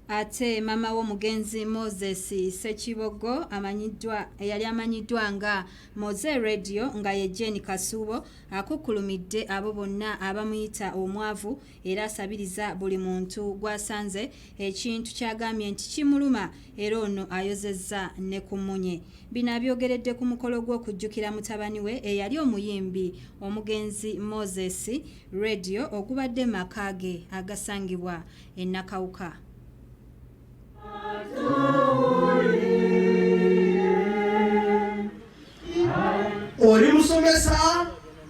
ate maama w'omugenzi moses sekibogo amanyiddwa eyali amanyiddwa nga moze radio nga ye jeni kasuubo akukkulumidde abo bonna abamuyita omwavu era asabiriza buli muntu gw'asanze ekintu kyagambye nti kimuluma era ono ayozezza ne ku munye bino abyogeredde ku mukolo gw'okujjukira mutabani we eyali omuyimbi omugenzi moses Radio ogubadde maka ge agasangibwa e Nakawuka. Oli musomesa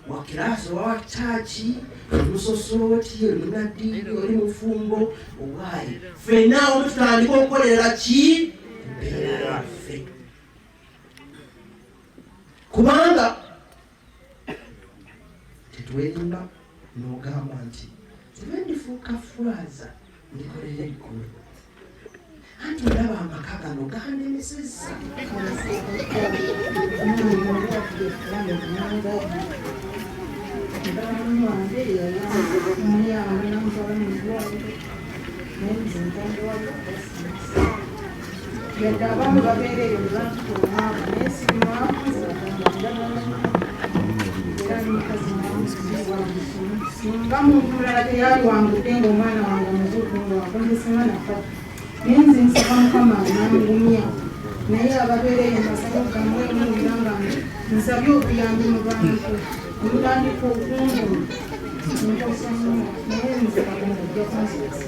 wa kiraasi oba wa kyaki oli musosooti oli munaddiini oli mufumbo owaaye ffenna omu tutandika okukolera ki embeera yaffe kubanga tetwerimba nogamba nti nze ndifuuka furaza ndikolera eggulu anti olaba amaka gano ganemesezza yadde abaami babeera eyo nebantuka omwavu naye si mwavu singa muntu mulala teyali wangudde ngaomwana wange omuzuukungu wakonzesema nafa naye nze nsaba mukama anangumya naye ababeera eyo masabo gamwemu era nga nsabye obuyambi mu bantu omutandika okungu nkosanyo naye nze katonda ojja kunzikisa